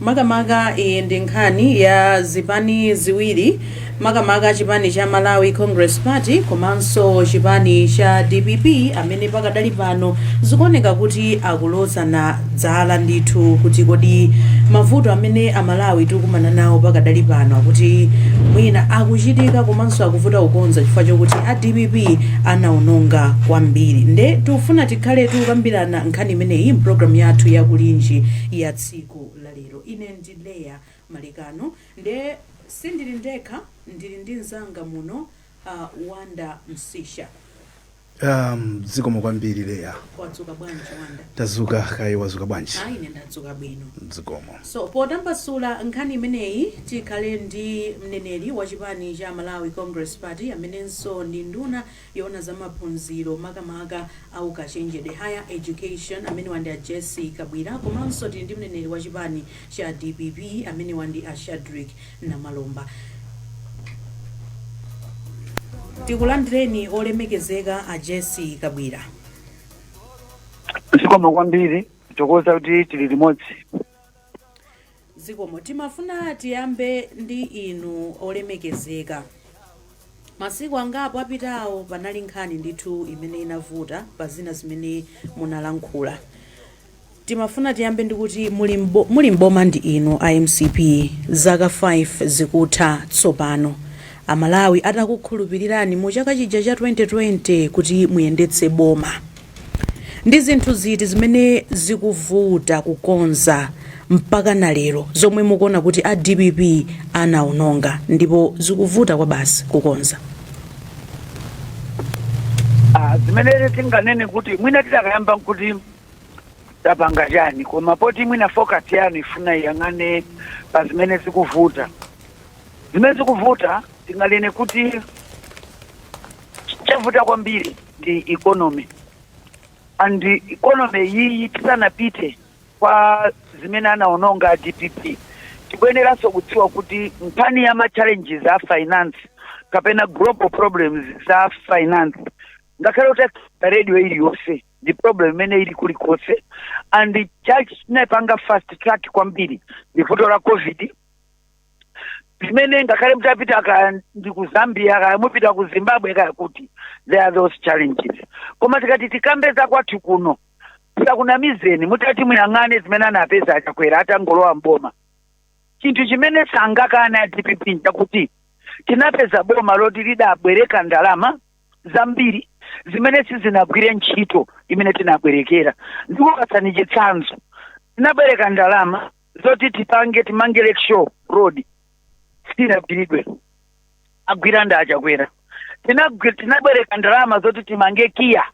Makamaka iyi ndi nkhani ya zipani ziwiri makamaka chipani cha Malawi Congress Party komanso chipani cha dpp amene pakadali pano zikuoneka kuti akulozana dzala ndithu kuti kodi mavuto amene Amalawi tikumana nawo pakadali pano akuti mwina akuchitika komanso akuvuta kukonza chifukwa chokuti a dpp anaononga kwambiri nde tufuna tikhale tukambirana nkhani imeneyi mpulogalamu yathu ya Kulinji ya tsiku tsiku la lero. Ine ndi Leah Malekano nde sindili ndekha ndili ndi mzanga muno a Wonder Msiska. Um, zikomo kwambiri Leah. Wadzuka bwanji Wonder? Tazuka kaye wazuka bwanji? Ayi ine ndadzuka bwino. Zikomo. So potambasula nkhani imeneyi tikhale ndi mneneri wa chipani cha Malawi Congress Party amenenso ndi nduna yoona za maphunziro makamaka a ukachenjede, Higher Education, amenewa ndi a Jessie Kabwila komanso tili ndi mneneri wa chipani cha dpp amenewa ndi a Shadric Namalomba. Tikulandireni olemekezeka a Jessie Kabwila. Zikomo kwambiri tithokoza kuti tili limodzi. Zikomo. Timafuna tiyambe ndi inu olemekezeka. Masiku angapo apitawo panali nkhani ndithu imene inavuta pa zina zimene munalankhula. Timafuna tiyambe ndikuti muli m'bo, muli m'boma ndi inu a mcp zaka 5 zikutha tsopano. Amalawi adakukhulupilirani mu chaka chija cha 2020 kuti muyendetse boma. Ndi zinthu ziti zimene zikuvuta kukonza mpakana lero zomwe mukuona kuti a dpp anaononga ndipo zikuvuta kwabasi kukonza? Ah, zimene tinganene kuti mwina tinakayamba nkuti tapanga chani koma poti mwina focus yanu ifuna iyang'ane pa zimene zikuvuta zimene zikuvuta tinganene kuti chavuta kwambiri ndi economy and economy iyiyi tisanapite kwa zimene anaononga a dpp tikuyeneranso kudziwa kuti nkhani ya ma challenges a finance kapena global problems za finance ngakhale muta radio iliyonse ndi problem imene ili kulikonse and chinaipanga fast track kwambiri ndi vuto la covid zimene ngakhale mutapita kaya ndi ku zambia kaya mupita ku zimbabwe kaya kuti there are those challenges koma tikati tikambe za kwathu kuno tisakunamizeni mutati muyang'ane zimene anapeza a Chakwera atangolowa mboma chinthu chimene sangakane a dpp nchakuti tinapeza boma loti lidabwereka ndalama zambiri zimene sizinagwire ntchito imene tinabwerekera ndikupatsani chitsanzo tinabwereka ndalama zoti tipange timange lake show road sitinagwiridwe agwira ndi achakwera Tinagwi- tinabwereka ndalama zoti timange KIA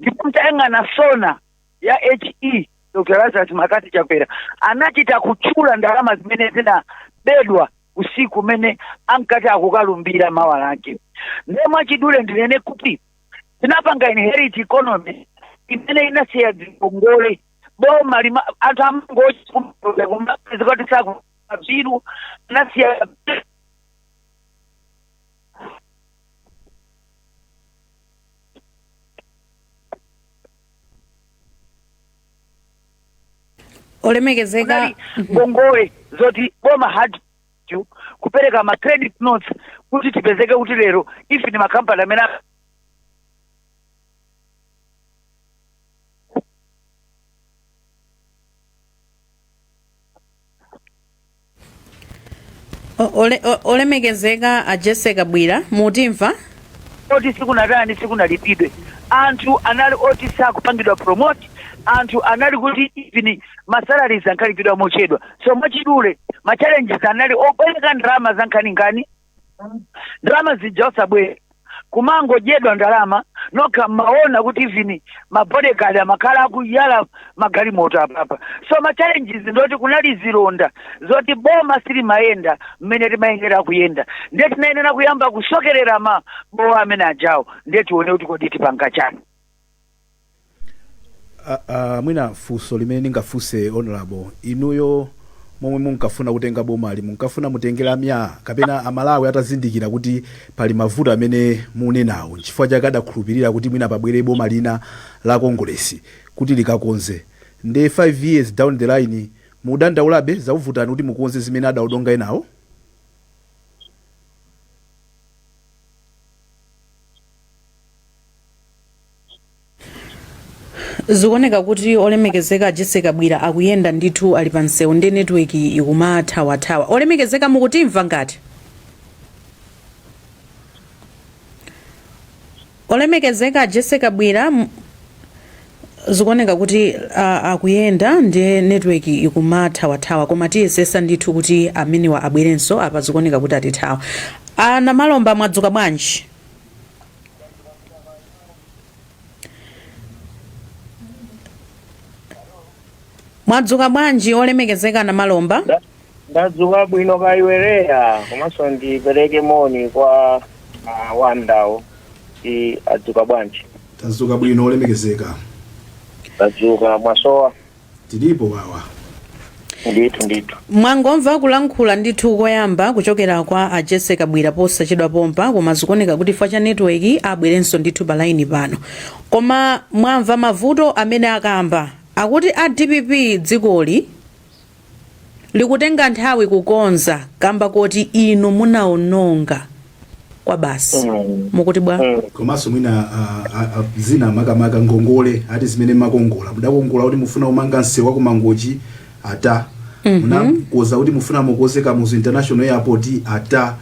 ndipo mtayang'ana sona ya he dr Lazarus McCarthy Chakwera anachita kutchula ndalama zimene zinabedwa usiku umene ankati akukalumbira mawa lake ndiye mwachidule ndinene kuti tinapanga inherit economy imene inasiya zikongole bomali anthu amangochi kumapeza kumapeza kuti sakubviru anasiya olemekezeka ngongole zoti boma had to kupereka ma credit notes kuti tipezeke kuti lero ife ni makampani amene a- O- ole- o- olemekezeka a Jessie Kabwila mutimva oti sikunatani sikunalipidwe anthu anali oti sakupangidwa promote anthu anali kuti even masalaries ankalipidwa mochedwa so mwachidule machallenges anali obwereka ndalama za nkhaninkhani ndalama zija osabwera kumangodyedwa ndalama nokha mmaona kuti even mabodyguard amakhala akuyala magalimoto apapa so ma challenges ndoti kunali zilonda zoti boma silimayenda mmene timayenera kuyenda ndiye tinayenera kuyamba kusokerera mabowo amene ajawo ndiye tione kuti kodi tipanga chani Ah, ah, mwina funso limene ndingafunse honorable inuyo momwe munkafuna kutenga bomali munkafuna mutengera myaa kapena amalawi atazindikira kuti pali mavuto amene munenawo nchifukwa chake adakhulupirira kuti mwina pabwere boma lina la kongolesi kuti likakonze nde 5 years down the line mudandaulabe zakuvutani kuti mukonze zimene adaononga enawo zikuoneka kuti olemekezeka a Jessie Kabwila akuyenda ndithu ali pa msewu ndi network ikumathawathawa olemekezeka mukutimva ngati olemekezeka a Jessie Kabwila m- zikuoneka kuti a- akuyenda ndi network ikumathawathawa koma tiyesesa ndithu kuti amenewa abwerenso apa zikuoneka kuti atithawa a Namalomba mwadzuka bwanji mwadzuka bwanji olemekezeka Namalomba Nda- ndadzuka bwino kaiwereya komanso ndipereke moni kwa uh, wandawo i adzuka bwanji tadzuka bwino olemekezeka ndadzuka mwasowa tilipo wawa ndithu ndithu mwangomva kulankhula ndithu koyamba kuchokera kwa a jessie kabwila posachedwa pompa koma zikuoneka kuti chifukwa cha netiweki abwerenso ndithu pa laini pano koma mwamva mavuto amene akamba akuti a dpp dzikoli likutenga nthawi kukonza kamba koti inu munaononga kwabasi mukuti bwa? komanso mwina ah, ah, ah, zina makamaka ngongole ati zimene makongola mudakongola kuti mufuna kumanga msewu wa kumangochi ata munakonza kuti mufuna mukonze kamuzu international airport ata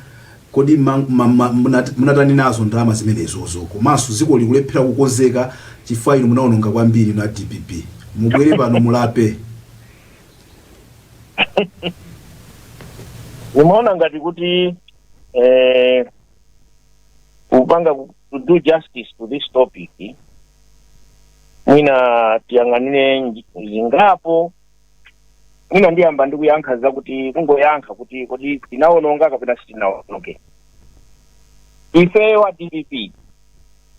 kodi ma- ma- ma- munat- munatani nazo ndalama zimenezozo komanso dziko likulephera kukonzeka chifukwa inu munaononga kwambiri na dpp mubwere pano mulape ndimaona ngati kuti eh, kupanga ku- to do justice to this topic mwina tiyang'anire nji- zingapo mwina ndiyamba ndi kuyankha zakuti kungoyankha kuti kodi tinaononga kapena sitinaononge ifeyo a dpp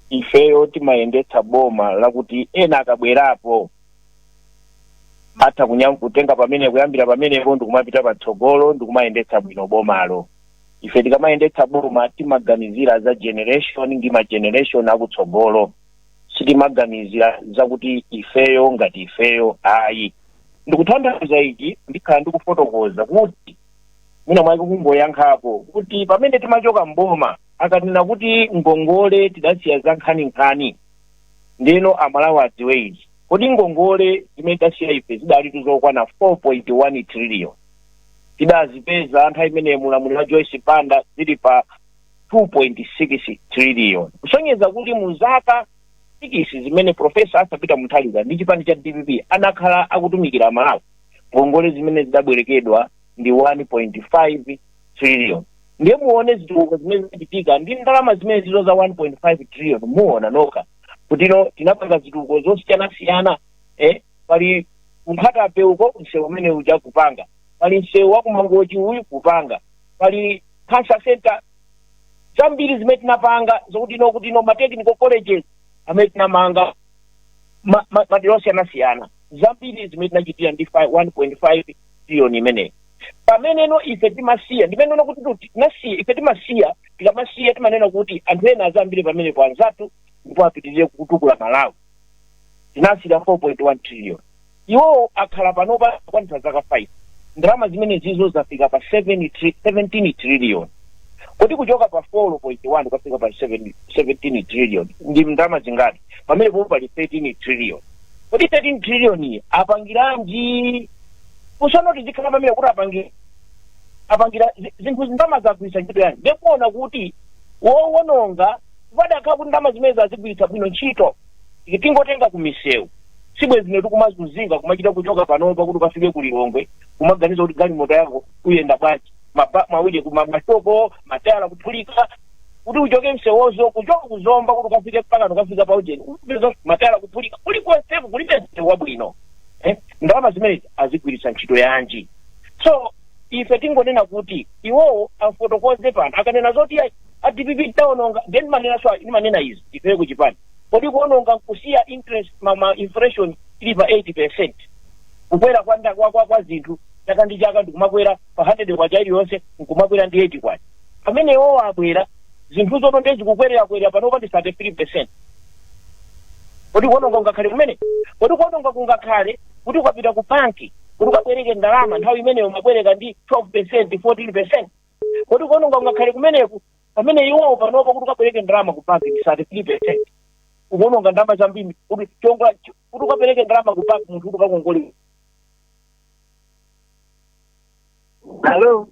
ifeyo timayendetsa boma lakuti ena akabwerapo atha kunyam- kutenga pamene kuyambira pamenepo ndikumapita patsogolo ndikumayendetsa bwino bomalo ife tikamayendetsa boma timaganizira za generation ndi ma generation akutsogolo sitimaganizira zakuti ifeyo ngati ifeyo ayi ndikutanthauza ichi ndikhala ndikufotokoza kuti mwina mwake kungoyankhapo kuti pamene timachoka mboma akanena kuti ngongole tidasiya za nkhaninkhani ndeno amalawi adziwe izi kuti ngongole zimene tidasiya ife zidalitu zokwana 4.1 trillion tidazipeza nthawi imene mulamuliro wa joyce banda zili pa 2.6 trillion kusonyeza kuti mu zaka sikisi zimene profesa arthur peter mutharika ndi chipani cha dpp anakhala akutumikira amalawi ngongole zimene zidabwerekedwa ndi 1.5 trillion ndiye muone zitukuko zimene zinachitika ndi ndalama zimenezizo za 1.5 trillion muona nokha kutino tinapanga zitukuko zosiyanasiyana eh, pali nkhatabay uko msewu umene uja kupanga pali msewu wa kumangochi uyu kupanga pali cancer center zambiri zimene tinapanga zokutino kutino ma technical colleges amene tinamanga ma- ma- madera osiyanasiyana zambiri zimene tinachitira ndi 1.5 trillion imeneyi pameneno ife timasiya ndimanena kuti tu- tinasiya ife timasiya tikamasiya timanena kuti anthu ena azayambire pamenepo anzathu ndipo apitirire kutukula malawi tinasiyira 4.1 trillion iwowo akhala panopa kwanitsa zaka 5 ndalama zimenezizo zafika pa 7 tri- 17 trillion kuti kuchoka pa 4.1 kukafika pa 7 17 trillion ndi ndalama zingati pamene popo pali 13 trillion kodi 13 trillion iyi apangiranji kusanati zikhala pamene kuti apangira apangira zi- zinthu ndalama zagwiritsa ntchito yanji ndikuona kuti wowononga padakhala kuti ndalama zimene azigwiritsa bwino ntchito tingotenga ku misewu si bwenzi ife tikumazunzika kumachita kuchoka panopa kuti ukafike ku lilongwe kumaganiza kuti galimoto yako uyenda bwanji Maba- mawuje ku ma- mashoko matayala kuphulika kuti uchoke msewozo kuchoka ku zomba kuti ukafike mpaka ukafika pa ujeni umapeza matayala kuphulika kulikonseko kulibe msewu wabwino eh? ndalama zimenezi azigwiritsa ntchito yanji so ife tingonena kuti iwowo afotokoze pano akanena zoti a- a dpp taononga ndimanena so ndimanena izi ifeye kuchipani kodi kuononga nkusiya interest ma, ma inflation ili pa 8 percent kukwera kwa, nda- kwa, kwa, kwa zinthu chaka ndi chaka nkumakwera pa 100 kwacha iliyonse nkumakwera ndi 8 kwacha pamene iwowo abwera zinthuzo no ndiye zikukwererakwera panopa ndi 33 percent kodi kuononga kungakhale kumeneko kodi kuononga kungakhale kuti ukapita ku banki kuti ukabwereke ndalama nthawi imeneyo umabwereka ndi 12 percent 14 percent kodi kuononga kungakhale kumeneku pamene iwowo panopa kuti ukabwereke ndalama ku banki ndi 33 percent kuononga ndalama zambiri kuti chonga kuti ukabwereke ndalama ku banki munthu kuti ukakongole Hello.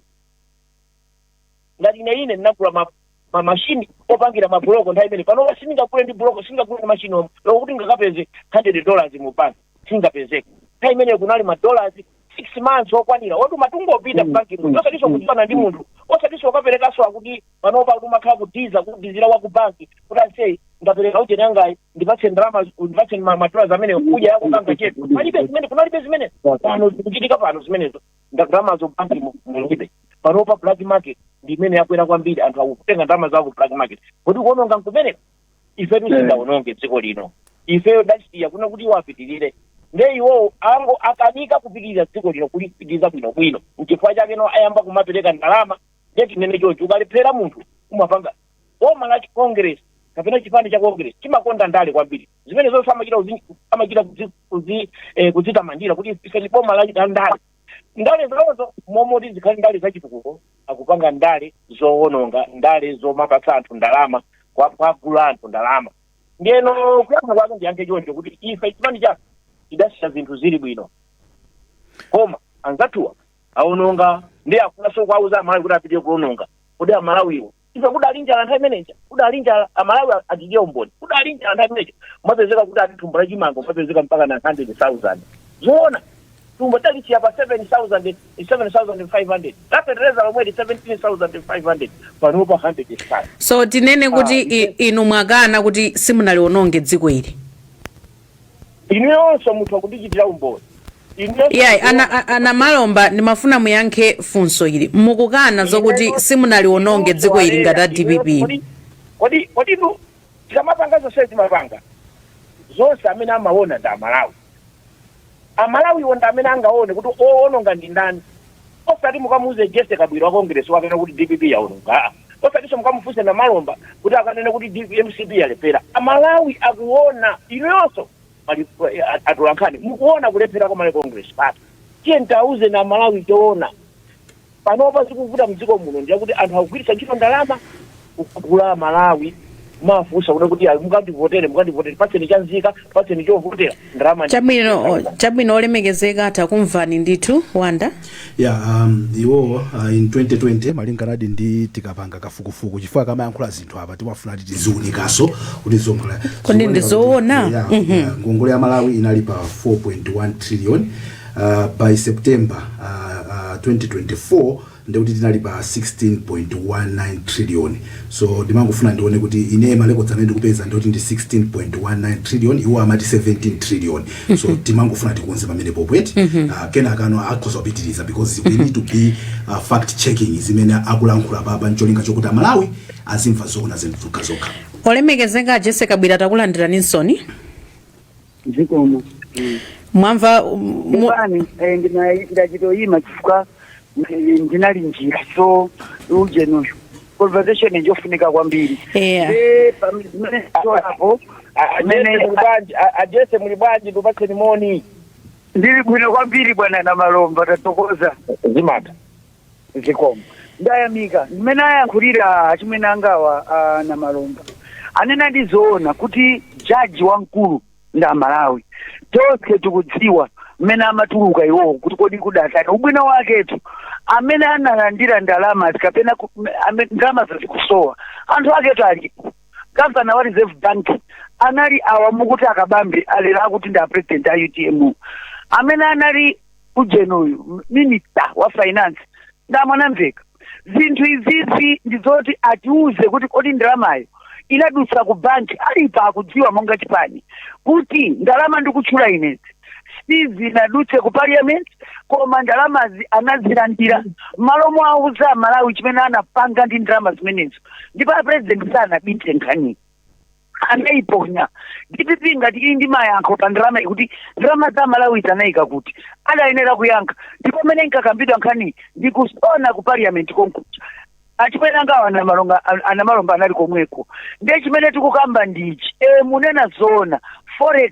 ngati ine ine ndinagula ma ma machine opangira ma block nthawi imene pano wa sindingagule ndi buloko sindingagule ndi machine omwe loko kuti ndikapeze 100 dollars mu bank siingapezeke nthawi imene kunali ma dollars 6 months okwanira oti umatha kungopita Mm, banki mm, munthu osatiso mm, kudziwana ndi mm. munthu osatiso ukaperekaso akuti panopa kuti umakhala kuti uzakudikira wa ku banki kuti ase ndapereka ujeni yangayi ndipatse ndalama ndipatse ma- ma dollars amene kuja yako kanga chetu palibe zimene kunalibe zimene pano zikuchitika pano zimenezo ndalamazo banki mu- mulibe panopa black market ndi imene yakwera kwambiri anthu akutenga ndalama zawo ku black market kodi kuononga nkumeneko ifetu sitidaononge dziko lino ifeyo tidasiya kunena kuti iwo apitirize nde iwowo angokanika kupitiriza dziko lino kulipitiriza bwinobwino nchifukwa chake no ayamba kumapereka ndalama nde tinene choncho ukalephera munthu umapanga boma la congress kapena chipani cha congress chimakonda ndale kwambiri zimenezonso amachita kuzi- amachita kuzi- kuzi- eh, kuzitamandira kuti ife ndi boma la la ndale ndale zawozo mmalo moti zikhale ndale zachitukuko akupanga ndale zowononga ndale zomapatsa anthu ndalama kwa- kuwagula anthu ndalama ndiyeno kuyankha kwake ndiyankhe choncho kuti ife chipani chathu tidasiya zinthu zili bwino koma anzathuwa awononga ndi akufunanso kuwauza amalawi kuti apitirize kuononga kodi amalawiwo ife kudali njala nthawi imeneja kudali njala amalawi achichita umboni kudali njala nthawi imeneja mwapezeka kuti ati thumba la chimanga mwapezeka mpaka na 100000 zoona thumba talisiya pa 7000 7500 lapetereza lomweli 17500 panopa 100000 so tinene kuti Ah, i- inu mwakana kuti simunaliwononge dziko ili inuyonso mutha kundichitira umboni Inuyonso yayi mutha- ana, a- a Namalomba ndimafuna muyankhe funso ili mukukana zokuti simunaliwononge dziko ili ngati a dpp Kodi- kodi kodi inu tikamapanga zonse timapanga zonse amene amaona ndi amalawi amalawiwo ndi amene angaone kuti owononga ndi ndani Osati mukamuuze Jessy Kabwila wa Congress akanene kuti dpp yaononga aa. Osatinso mukamufunse Namalomba kuti akanene kuti D mcp yalephera. A Malawi akuona. Inuyonso atolankhani mukuona kulephera kwa Malawi Congress Party. Tiyeni tiauzeni a Malawi choona. Panopa chikuvuta mdziko muno ndi chakuti anthu akugwiritsa ntchito ndalama. kugula amalawi kumawafunsa kuti kuti ayi mukandivotere mukandivotere patseni chanzika patseni chovotera ndalama ndi- chabwino chabwino olemekezeka takumvani ndithu wanda ya um, iwo uh, in 2020 malinganadi ndi tikapanga kafukufuku chifukwa akamayankhula zinthu apa timafuna kuti tiziunikaso kuti zomphula Kodi ndi zoona? ngongole ya malawi inali pa 4.1 trillion uh, by september uh, uh, 2024 ndiye kuti tinali pa 16.19 trillion so ndimangofuna ndione kuti inee ma records amene ndikupeza ndiye kuti ndi 16.19 trillion iwo amati 17 trillion so timangofuna tikonze pamenepopo eti Ah, kenakano akhoza kupitiriza because we need to be uh, fact checking zimene akulankhula papa ncholinga chokuti amalawi azimva zoona zokhazokha olemekezeka Jessy Kabwila takulandirani nsoni zikomo Mm. mwamva um, mu- Ndibani, eh, ndina- ndachitoyima chifukwa eh, ndinali mnjira so ujenuyo conversation njofunika kwambiri Yeah. Eh, pam- zimene zitolapo, ah, amene a Jessy muli bwanji? A- a Jessy muli bwanji? Ndikupatseni moni. ndili bwino kwambiri bwana Namalomba tathokoza Zimata. Zikomo. Ndayamika mmene ayankhulira achimwene angawa a Namalomba. Anenadi zoona kuti judge wamkulu ndi Amalawi. Tonse tikudziwa mmene amatuluka iwowo kuti kodi kudatani. Ubwino waketu amene analandira ndalamazi kapena ku- ame- ndalamazo zikusowa anthu aketu alipo. Gavana wa Reserve Bank anali awa mukuti a Kabambe alero akuti ndi a president a UTM. Amene anali ujeni uyu m- minister wa finance ndamanamveke zinthu izizi ndi zoti atiuze kuti kodi ndalamayo inadutsa ku banki alipo akudziwa monga chipani kuti ndalama ndikutchula inezi sizinadutse ku parliament koma ndalamazi anazilandira mmalo mowauza amalawi chimene anapanga ndi ndalama zimenezo ndipo a president sanabitse nkhaniyi anaiponya dpp ngati ili ndi mayankho pa ndalamayi kuti ndalama za malawizi anaika kuti adayenera kuyankha ndipo pamene inkakambidwa nkhaniyi ndi kusona ku parliament konkuja achimwene angawa anamalonga anamalomba anali komweko ndiye chimene tikukamba ndichi e mukunena zoona forex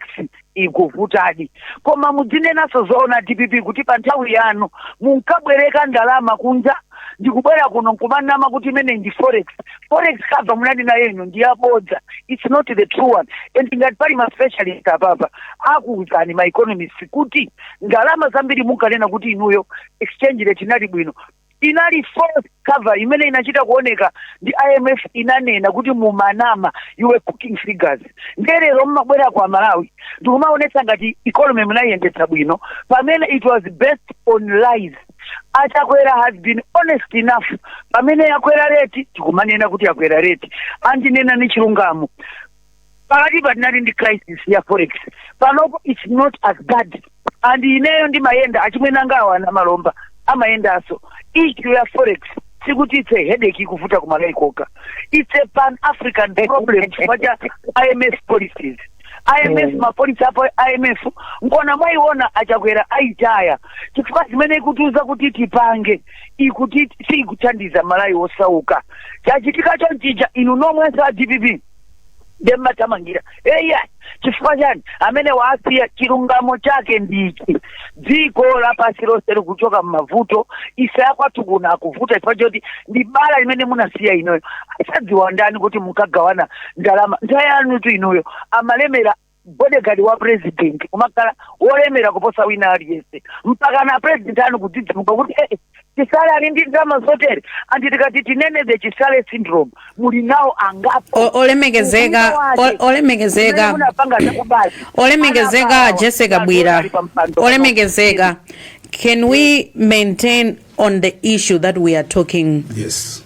ikuvutadi koma mudzinenanso zoona dpp kuti pa nthawi yanu munkabwereka ndalama kunja ndikubwera kuno nkumanama kuti imeneyi ndi forex forex cover munali nayo inu ndi yabodza its not the true one and ngati pali ma specialist apapa akuwuzani ma economist kuti ndalama zambiri munkanena kuti inuyo exchange rate inali bwino inali false cover imene inachita kuoneka ndi imf inanena kuti mumanama you were cooking figures ndiye lero mmabwera kwa amalawi ndikumaonetsa ngati economy munayiyendetsa bwino pamene it was based on lies achakwera has been honest enough pamene yakwera reti tikumanena kuti yakwera reti and nnena ndi chilungamo pakatipa tinali ndi crisis ya forex panopo its not as bad and ineyo ndimayenda achimwene anga awa anamalomba amayendanso issue ya forex sikuti it's a headache ikuvuta kumalawi kokha it's a pan african problem chifukwa cha imf policies imf Mm. mapolisi a imf nkona mwaiona achakwera aitaya chifukwa zimene ikutiuza kuti tipange ikuti siikuthandiza amalawi osauka chachitika chonchija inu nomwenu a dpp ndiye mmaithamangira eya chifukwa chani amene waasiya chilungamo chake ndichi dziko lapansi lonse likuchoka mmavuto issue yakwathu kuno ikuvuta chifukwa choti ndi bala limene munasiya inuyo asakudziwa ndani kuti munkagawana ndalama nthawi yanutu inuyo mumalemera bodyguard wa president kumakhala wolemera kuposa wina aliyense mpakana a president anu kudzidzimuka kuti eh, chisale ali ndi ndalama zotere and tikati tinene the chisale syndrome muli nawo angapo O- olemekezeka Ubwino wake. o- olemekezeka Zimene munapanga zakubazi. olemekezeka Anabawa. jessica kabwila ali pa mpando. olemekezeka can we maintain on the issue that we are talking yes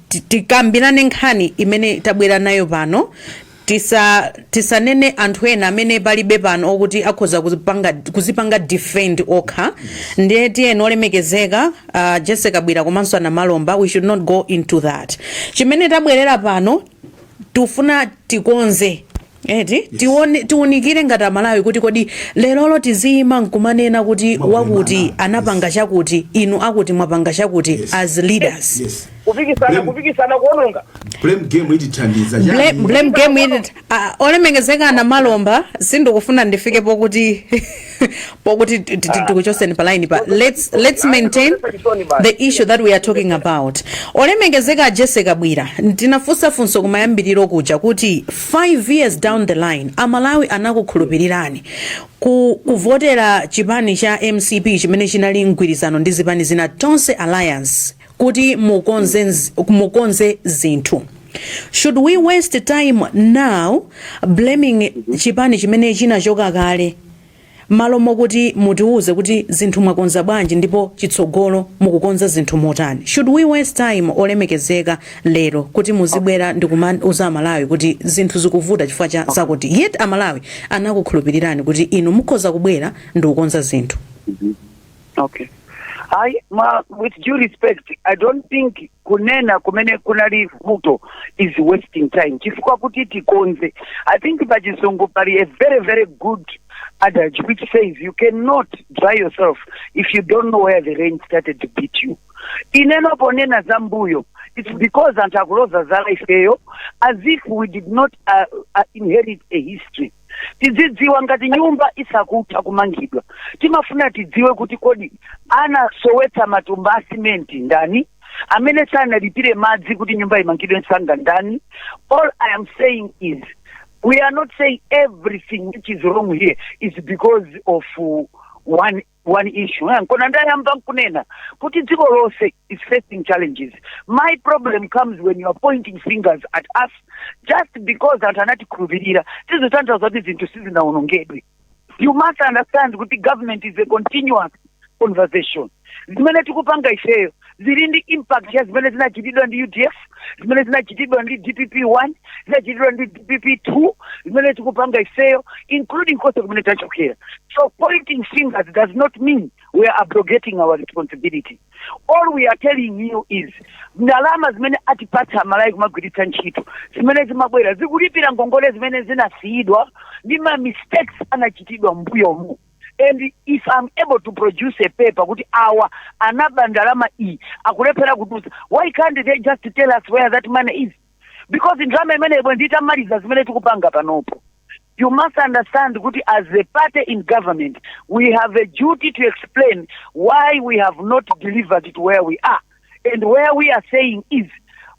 ti- tikambirane nkhani imene tabwera nayo pano tisa tisanene anthu ena amene palibe pano okuti akhoza kuzipanga, kuzipanga defend okha ndiye tiyeni olemekezeka uh, jessie kabwila komanso anamalomba we should not go into that chimene tabwerera pano tufuna tikonze Eti yes. Tikonze, tiunikire ngati amalawi kuti kodi lerolo tiziyima nkumanena kuti wakuti anapanga chakuti inu akuti mwapanga chakuti yes. as leaders yes. kupikisana kupikisana kuononga blame game itithandiza blame, blame game itit uh, olemekezeka a namalomba sindikufuna ndifikepo kuti pokuti ti- ti- ti- tikuchoseni pa line pa let's, let's maintain the issue that we are talking about olemekezeka a jessie kabwila ndinafunsa funso kumayambiriro kuja kuti 5 years down the line amalawi anakukhulupirirani ku, kuvotera chipani cha mcp chimene chinali mgwirizano ndi zipani zina tonse alliance kuti mukonze mukonze zinthu should we waste time now blaming chipani chimene chinachoka kale malo mokuti mutiwuze kuti zinthu mwakonza bwanji ndipo chitsogolo mukukonza zinthu motani should we waste time olemekezeka lero kuti muzibwera ndi kumauza amalawi kuti zinthu zikuvuta chifukwa cha zakuti yet amalawi anakukhulupirirani kuti inu mukhoza kubwera ndi kukonza zinthu okay I, ma, with due respect i don't think kunena kumene kunali vuto is wasting time chifukwa kuti tikonze i think pachizungu pali a very very good adage which says you cannot dry yourself if you don't know where the rain started to beat you ineyo ponena za mbuyo it's because anthu akuloza zala ifeyo as if we did not uh, uh, inherit a history tidzidziwa ngati nyumba isakutha kumangidwa timafuna tidziwe kuti kodi anasowetsa matumba a simenti ndani amene sanalipire madzi kuti nyumba imangidwe msanga ndani all i am saying is we are not saying everything which is wrong here is because of uh, one one issue eh? nkona ndayamba nkunena kuti dziko lonse is facing challenges my problem comes when you are pointing fingers at us just because anthu anatikhulupirira sizikutanthauza kuti zinthu sizinawonongedwe you must understand kuti government is a continuous conversation zimene tikupanga ifeyo zili ndi impact ya zimene zinachitidwa ndi udf zimene zinachitidwa ndi dpp 1 zinachitidwa ndi dpp 2 zimene tikupanga ifeyo including konse kumene tachokera so pointing fingers does not mean we are abrogating our responsibility all we are telling you is ndalama zimene atipatsa amalawi kumagwiritsa ntchito zimene zimabwera zikulipira ngongole zimene zinasiyidwa ndi ma mistakes anachitidwa mbuyomu and if am able to produce a paper kuti awa anaba ndalama iyi akulephera kutulutsa why can't they just tell us where that money is because ndalama imeneyo bwenzi titamaliza zimene tikupanga panopo you must understand kuti as a party in government we have a duty to explain why we have not delivered to where we are and where we are saying is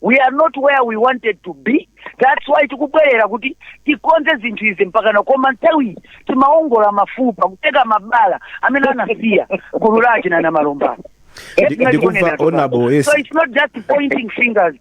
we are not where we wanted to be that's why tikubwerera kuti tikonze zinthu izi mpakana koma nthawi timaongola mafupa kuteka mabala amene anasiya gulu lake na Namalomba. Ndi- ndikumva honorable yes so it's not just pointing fingers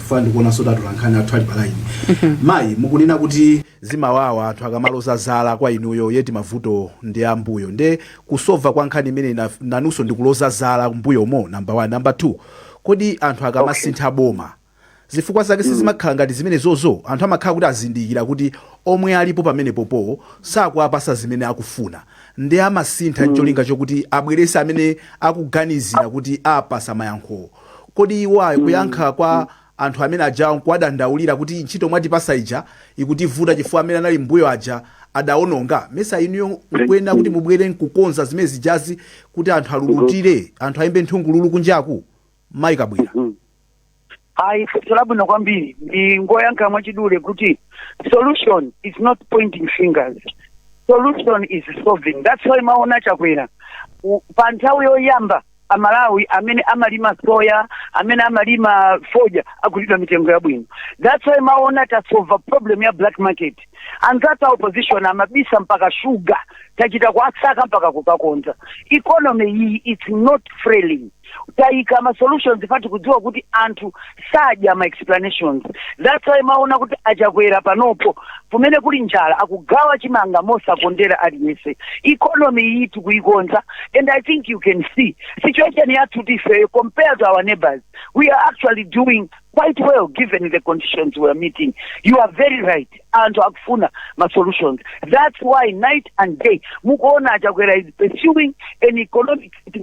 chifukwa ndikuonanso kuti atolankhani athu ali pa line mayi mukunena kuti zimawawa anthu akamaloza zala kwa inuyo yeti mavuto ndi ambuyo nde kusova kwa nkhani imene ina- nanunso ndikuloza zala mbuyomo namba 1 namba 2 kodi anthu akamasintha boma zifukwa zake sizimakhala ngati zimene zozo anthu amakhala kuti azindikira kuti omwe alipo pamenepopo sakuwapasa zimene akufuna nde amasintha ncholinga chokuti abwerese amene akuganizira kuti awapasa mayankhowo kodi iwowa kuyankha kwa anthu amene ajawa nkuwadandaulira kuti ntchito mwatipasa ija ikutivuta chifukwa amene anali mmbuyo aja adaononga? Mesa inuyo nkuyenera kuti mubwere nkukonza zimene zijazi kuti anthu alulutire, anthu aimbe nthungululu kunjaku? Mayi Kabwira. Ayi, funso labwino kwambiri. Ndingoyankha mwachidule kuti solution is not pointing fingers. Solution is solving. That's why maona Chakwera u- pa nthawi yoyamba amalawi amene amalima soya amene amalima fodya agulidwa mitengo yabwino that's why maona tasolva problem ya black market anzathu a opposition amabisa mpaka sugar tachita kuasaka mpaka kukakonza economy iyi its not frailing tayika ma solutions pati kudziwa kuti anthu sadya ma explanations that's why maona kuti achakwera panopo kumene kuli njala akugawa chimanga mosakondera aliyense economy iyi tikuyikonza and i think you can see situation yathu tifeyo compared to our neighbors we are actually doing quite well given the conditions we are meeting you are very right anthu akufuna ma solutions that's why night and day mukuona achakwera is pursuing an economic you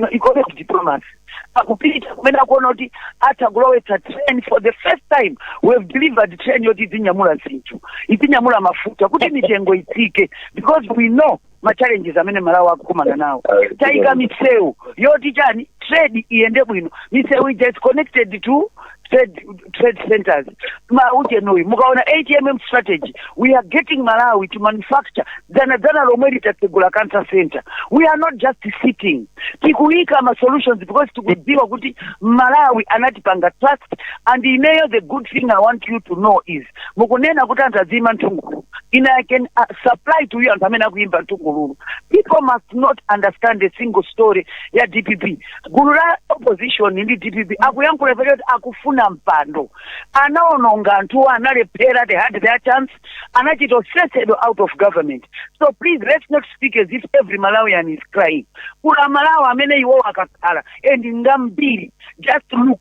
know, economic diplomacy akupita kumene akuona kuti atha kulowetsa train for the first time we have delivered train yoti idzinyamula zinthu idzinyamula mafuta kuti mitengo itsike because we know ma challenges amene amalawi akukumana nawo tayika misewu yoti chani trade iyende bwino misewu ija is connected to trade, trade centers ma ujeni uyu mukaona ATM strategy we are getting malawi to manufacture dzana dzana lomweli tatsegula cancer center we are not just sitting tikuyika ma solutions because tikudziwa kuti amalawi anatipanga trust and ineyo the good thing i want you to know is mukunena kuti anthu azimba nthungululu ine i can uh, supply to you anthu amene akuyimba nthungululu people must not understand a single story ya dpp gulu la opposition ndi dpp akuyankhula ife choti akufuna mpando anaononga anthuwo analephera they had their chance anachita kusesedwa out of government so please let's not speak as if every malawian is crying kuli amalawi amene iwowo akakhala and ngambiri just look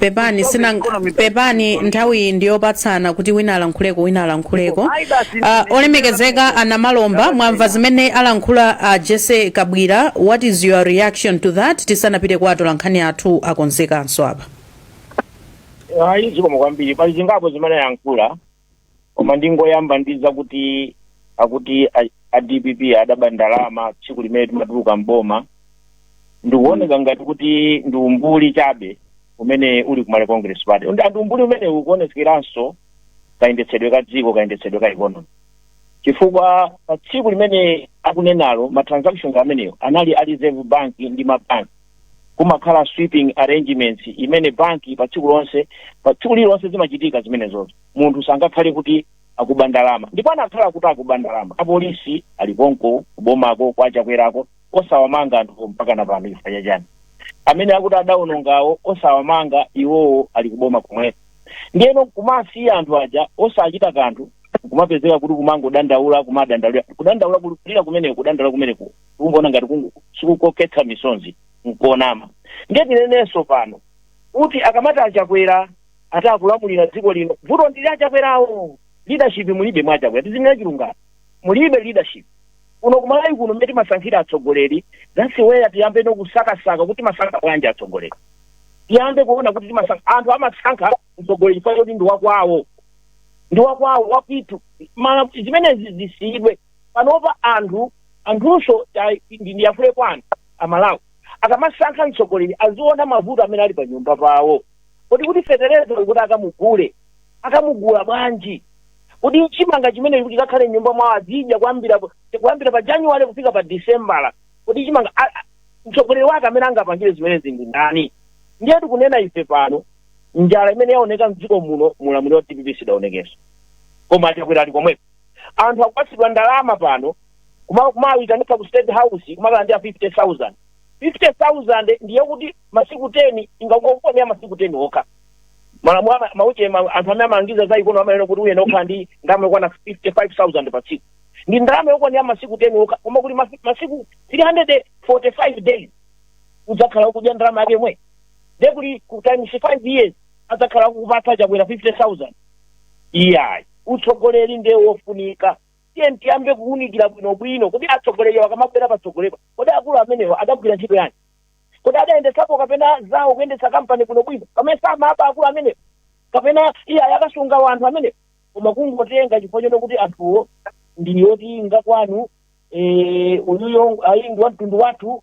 pepani sina pepani nthawi ndiyopatsana kuti wina alankhuleko wina alankhuleko uh, olemekezeka a Namalomba mwamva zimene alankhula uh, Jessie Kabwila what is your reaction to that tisanapite kwa atolankhani athu akonzekanso apa ayi zikomo kwambiri pali zingapo zimene ayankhula koma ndingoyamba ndi zakuti akuti a, a dpp adaba ndalama tsiku limene timatuluka mboma ndikuoneka ngati kuti ndi umbuli chabe umene uli kumale congress party and ndi umbuli umene ukuonekeranso kayendetsedwe ka dziko kayendetsedwe ka economy chifukwa pa tsiku limene akunenalo ma transactions amenewo anali a reserve bank ndi mabanki kumakhala sweeping arrangements imene banki pa tsiku lonse pa tsiku lililonse zimachitika zimenezozo munthu sangakhale kuti akuba ndalama ndipo anakakhala kuti akuba ndalama apolisi ali konko kubomako kwa chakwerako osawamanga anthu mpaka na pano chifukwa chachani amene akuti adaonongawo osawamanga iwowo ali kuboma komweko ndiyeno nkumasiya anthu aja osachita kanthu nkumapezeka kuti kumangodandaula kumadandaula kudandaula kulira kumeneko kudandaula kumeneko kungoona ngati kungu- sikukokhetsa misonzi nkuonama ndiye tinenenso pano kuti akamati achakwera atakulamulira dziko lino vuto ndili achakwerawo leadership mulibe mwa achakwera tizinena chilungamo mulibe leadership kuno kumalawi kuno mmene timasankhira atsogoleri zasiweya tiyambeno kusakasaka kuti timasankha bwanji atsogoleri tiyambe kuona kuti timasankha anthu amasankha mtsogoleri chifukwa choti ndi wakwawo ndi wakwawo wapitu Mala- zimenezi zisiyidwe panopa anthu anthunso ndiyankhule kwa anthu amalawi akamasankha mtsogoleri aziona mavuto amene ali pa nyumba pawo kodi kuti fetereza kuti akamugule akamugula bwanji kodi chimanga chimene kuti chikakhale mnyumba mwawo azidya kuyambira kuyambira pa januwale kufika pa disembala kodi chimanga mtsogoleri wake amene angapangire zimenezi ndi ndani ndiye tikunena ife pano njala imene yaoneka mdziko muno mulamuliro wa dpp sidaonekenso koma chakwera ali komweko anthu akupatsidwa ndalama pano kuma- kumayitanidwa ku state house kumakalandira 50000 50000 ndiye kuti masiku 10 ingakukonera masiku 10 okha malamulo ama- mauche ma- anthu amene amalangiza za ikonome amayenera kuti uyenera kukhala ndi ndalama yokwana 55000 pa tsiku ndi ndalama yokwanira masiku 10 okha koma kuti masi- masiku 345 days udzakhala ukudya ndalama yake yomwe ndekuti ku times 5 years adzakhala akukupatsa chakwera 50000 iyayi Utsogoleri nde wofunika. Tiyeni tiyambe kuunikira bwinobwino. Kodi atsogoleri awa akamabwera patsogolepa, kodi akulu amenewa adagwira ntchito yanji? Kodi adayendetsako kapena zawo kuyendetsa kampani bwinobwino? Kapena samaba akulu amenewa? Kapena iye ayakasunga wanthu amenewa? Koma kungotenga chifukwa choti kuti anthuwo ndi oti ngakwanu, eh, uyuyo ayi ndi wa mtundu wathu,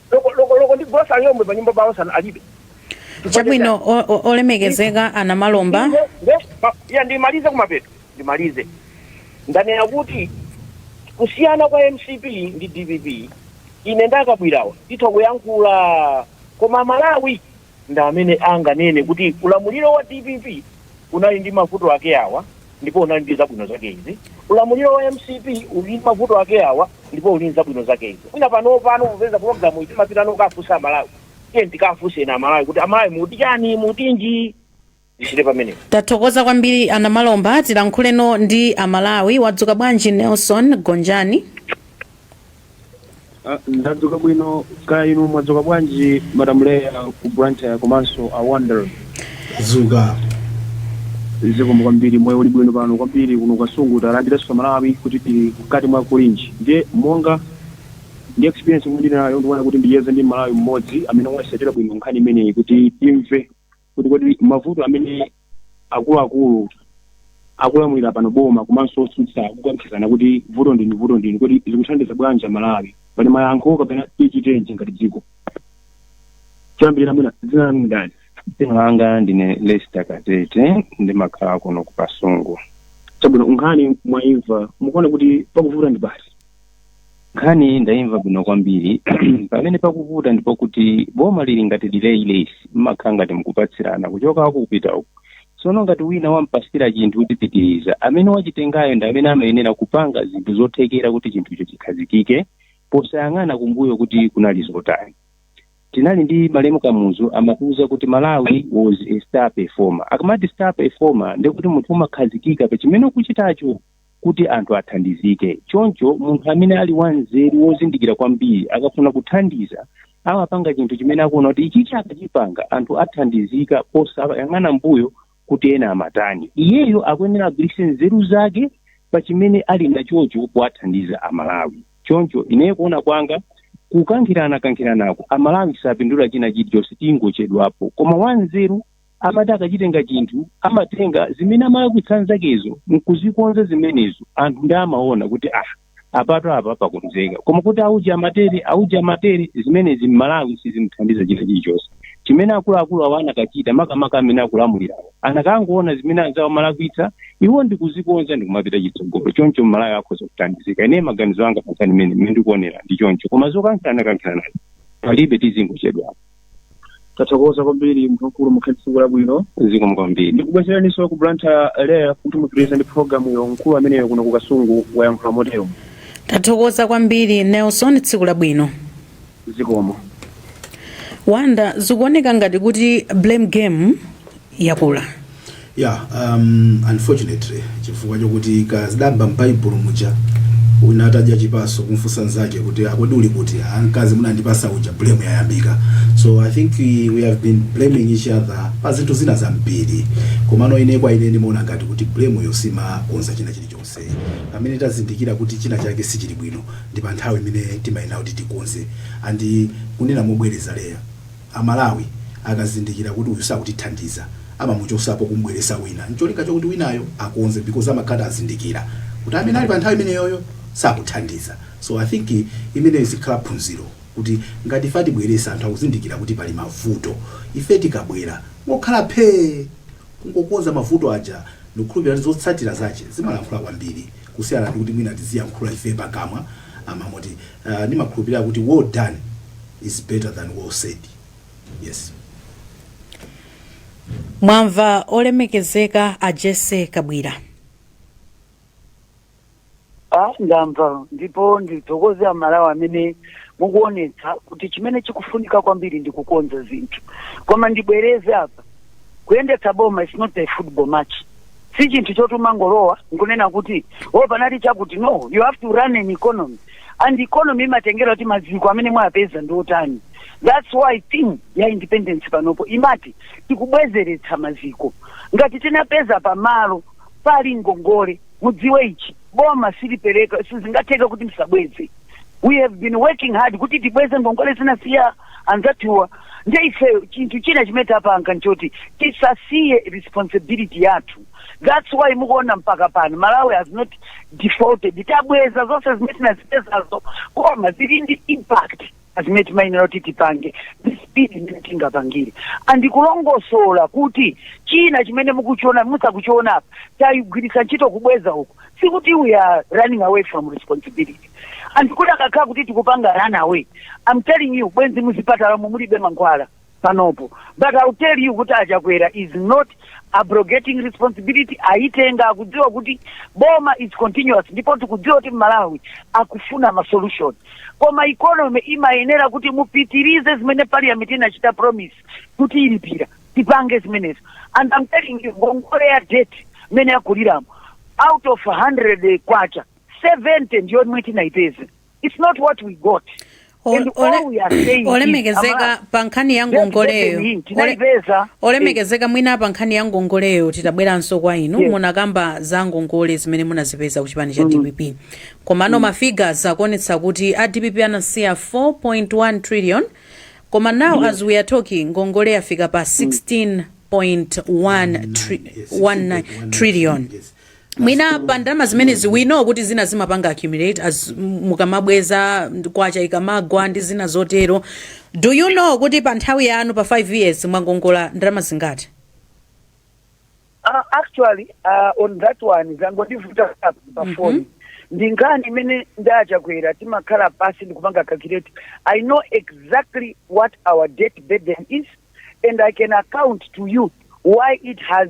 loko loko loko ndi grocery yomwe pa nyumba pawo sanali alibe chabwino? o- o- olemekezeka a Namalomba Nde- nde- pa- ya ndimalize kumapeto ndimalize ndanena kuti kusiyana kwa mcp ndi dpp ine ndakabwirawa titha kuyankhula koma malawi ndi amene anganene kuti ulamuliro wa dpp unali ndi mavuto ake awa ndipo unali ndi zabwino zake izi ulamuliro wa mcp uli ndi mavuto ake awa ndipo uli ndi zabwino zake izi mwina panopano popeza pologalamuyi timapita nokafunsa amalawi tiye tikafunsenso amalawi kuti amalawi muti chani mutinji tichite pamene tathokoza kwambiri ana malomba tilankhuleno ndi amalawi mwadzuka bwanji nelson gonjani Ah, ndadzuka bwino kaya inu mwadzuka bwanji madam leya ku blantyre komanso a wonder zuka zikomo kwambiri moyo uli bwino pano kwambiri kuno ku kasungu talandiranso malawi kuti tili mkati mwa kulinji ndiye monga ndi experience imene ndili nayo ndikuona kuti ndicheze ndi mmalawi mmodzi amene waisatira bwino nkhani imeneyi kuti timve kuti kodi mavuto amene akuluakulu akulamulira pano boma komanso otsutsa akukankhizana kuti vuto ndinu vuto ndinu kodi zikuthandiza bwanji amalawi pali mayankho kapena tichitenji ngati dziko choyambirira mwina dzina lanu ndani dzina langa ndine lester katete ndimakhala kuno ku kasungu chabwino nkhani mwaimva mukuona kuti pakuvuta ndi pati nkhani ndaimva bwino kwambiri pamene pakuvuta ndi pokuti boma lili ngati relay race mmakhala ngati mkupatsirana kuchoka uku kupita uku tsono ngati wina wampasira chinthu kuti pitiriza amene wachitengayo ndi amene amayenera kupanga zinthu zothekera kuti chinthucho chikhazikike posayang'ana kumbuyo kuti kunali zotani tinali ndi malemu kamuzu amatiuza kuti malawi was a star performer akamati star performer ndikuti munthu umakhazikika pa chimene ukuchitacho kuti anthu athandizike. Choncho munthu amene ali wanzeru, wozindikira kwambiri, akafuna kuthandiza amapanga chinthu chimene akuona kuti ichichi akachipanga anthu athandizika posayang'ana m'mbuyo kuti ena amatani. Iyeyo akuyenera agwiritse nzeru zake pa chimene ali nachocho kuwathandiza Amalawi. Choncho ineyo kuona kwanga, kukankhiranakankhiranako Amalawi sapindula china chilichonse, tingochedwapo. Koma wanzeru amati akachitenga chinthu amatenga zimene amalakwitsa anzakezo nkuzikonza zimenezo anthu ndi amaona kuti ah apatu apa pakonzeka koma kuti auja amatere auja amatere zimenezi mmalawi sizimthandiza china chilichonse chimene akuluakulu awo anakachita makamaka amene akulamulirawo anakangoona zimene anzawo amalakwitsa iwo ndikuzikonza ndikumapita chitsogolo choncho mmalawi akhoza kuthandizika ine maganizo anga pankhani imene mmene ndikuonera ndi choncho koma zokankhirana kankhiranazi palibe tizingochedwapo tathokoza kwambiri munthu wamkulu mukhale ndi tsiku labwino zikomo kwambiri ndikubwezeraniso ku blantyre leya kuti mupitirize ndi programuyo mkulu ameneyo kuno ku kasungu wayankhula motero tathokoza kwambiri nelson tsiku labwino zikomo wonder zikuoneka ngati kuti blame game yakula? ya um, unfortunately chifukwa chokuti kuchokanso m'baibulo muja wina atadya chipatso kumfunsa nzake kuti a kodi uli kuti "Ah, mkazi munandipasa uja blame yayambika so i think we, we have been blaming each other pa zinthu zina zambiri komano ine kwa ine ndimaona ngati kuti blame yo simakonza china chilichonse pamene tazindikira kuti china chake sichili bwino ndi pa nthawi imene timayenera kuti tikonze and kunena mobwereza Leah Amalawi akazindikira kuti uyu sakutithandiza amamuchosapo kumubweresa wina ncholinga chokuti winayo akonze because amakhala kuti azindikira kuti amene ali panthawi imeneyoyo sakuthandiza so I think imeneyo izikhala phunziro kuti ngati ife atibweretsa anthu akuzindikira kuti pali mavuto ife tikabwera ngokhala phee kungokonza mavuto aja ndikukhulupilira kuti zotsatira zache zimalankhula kwambiri kusiyana ndikuti mwina tiziyankhula ife pakamwa pamoti ndimakhulupilira kuti well done. is better than well said. Yes. mwamva olemekezeka a Jessie Kabwila Ah, ndamva ndipo ndithokoze amalawi amene mukuonetsa kuti chimene chikufunika kwambiri ndi kukonza zinthu koma ndibwereze apa kuyendetsa boma is not a football match si chinthu choti umangolowa nkunena kuti o panali chakuti no you have to run an economy and economy imatengera kuti maziko amene mwapeza ndi otani that's why theme ya independence panopo imati tikubwezeretsa maziko ngati tinapeza pamalo pali ngongole mudziwe ichi boma silipereka sizingatheka kuti msabweze we have been working hard kuti tibweze ngongole zinasiya anzathuwa nde ife chinthu china chimene tapanga nchoti tisasiye responsibility yathu thats why mukuona mpaka pano malawi has not defaulted tabweza zonse zimene tinazipezazo koma zili ndi impact pa zimene timayenera kuti tipange ndi speed imene tingapangire and kulongosola kuti china chimene mukuchiona musakuchiona apa tayigwiritsa ntchito kubweza uku sikuti we are running away from responsibility and kuti akakhala kuti tikupanga run away i'm telling you bwenzi muzipatalamu mulibe mankhwala panopo but I'll tell you kuti achakwera is not abrogating responsibility ayitenga akudziwa kuti boma is continuous ndipo tikudziwa kuti Amalawi akufuna ma solution koma economy imayenera kuti mupitirize zimene parliament inachita promise kuti ilipira tipange zimenezo and I'm telling you ngongole ya debt mmene yakuliramo out of 100 kwacha 70 ndiyomwe tinaipeza it's not what we got O- and ole- all we are saying is, olemekezeka Amara, pa nkhani ya ngongoleyo Ole- tinaipeza olemekezeka mwina pa nkhani ya ngongoleyo titabweranso kwa inu Yes. munakamba za ngongole zimene munazipeza ku chipani cha dpp komano mafigures akuonetsa kuti a dpp anasiya 4.1 trillion koma now as we are talking ngongole yafika pa 16.1 tri- 19, 19 trillion yes. mwina pa ndalama zimenezi we know kuti zina zimapanga accumulate as m- mukamabweza ndi kwacha ikamagwa ndi zina zotero do you know kuti pa nthawi yanu pa 5 years mwangongola ndalama zingati Uh, actually uh, on that one zangondivuta pa Mhm. phone ndi nkhani imene ndajakwera timakhala pansi ndikupanga calculate i know exactly what our debt burden is and i can account to you why it has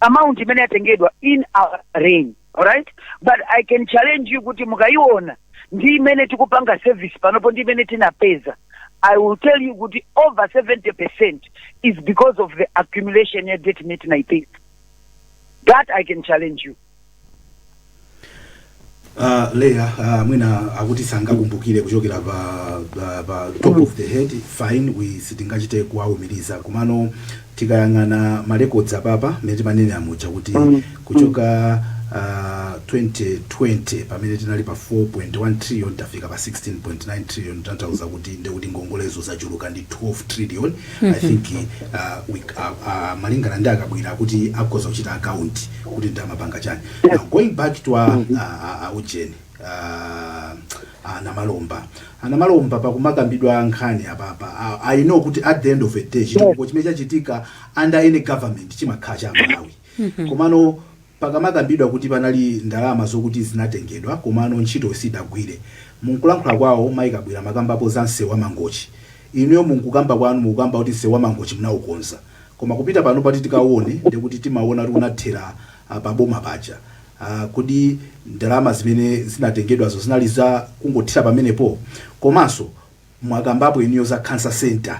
amount imene yatengedwa in our reign alright but i can challenge you kuti mukayiona ndi imene tikupanga service panopo ndi imene tinapeza i will tell you kuti over 70 percent is because of the accumulation ya debt imene tinayipeza that i can challenge you Uh, leya uh, mwina akuti sangakumbukire kuchokera pa, pa, pa top of the head fine we sitingachite kuwaumiriza komano tikayang'ana marecords apapa mmene timanenera muja kuti kuchoka uh, 2020 pamene tinali pa 4.1 trillion tafika pa 16.9 trillion tanthauza kuti ndekuti ngongolezo zachuluka ndi 12 trillion i think uh, we, uh, uh, malingana ndi a Kabwila kuti akhoza kuchita account kuti ndamapanga chani now going back to a, mm-hmm. a, a, a ujeni anamalomba anamalomba pakumakambidwa nkhani apapa i know kuti at the end of the day chitukuko chimene chachitika under any government chimakhala cha malawi mm-hmm. komano pakamakambidwa kuti panali ndalama zokuti zinatengedwa komano ntchito sidagwire munkulankhula kwawo mayi Kabwila amakambapo za msewu wa mangochi inuyo munkukamba kwanu mukukamba kuti msewu wa mangochi munaukonza Koma kupita panopa kuti tikawone ndiye kuti timawona kuti unathera pa boma paja. Kodi ndalama zimene zinatengedwazo zinali za kungothera pamenepo? Komanso mwakambapo inuyo za cancer centre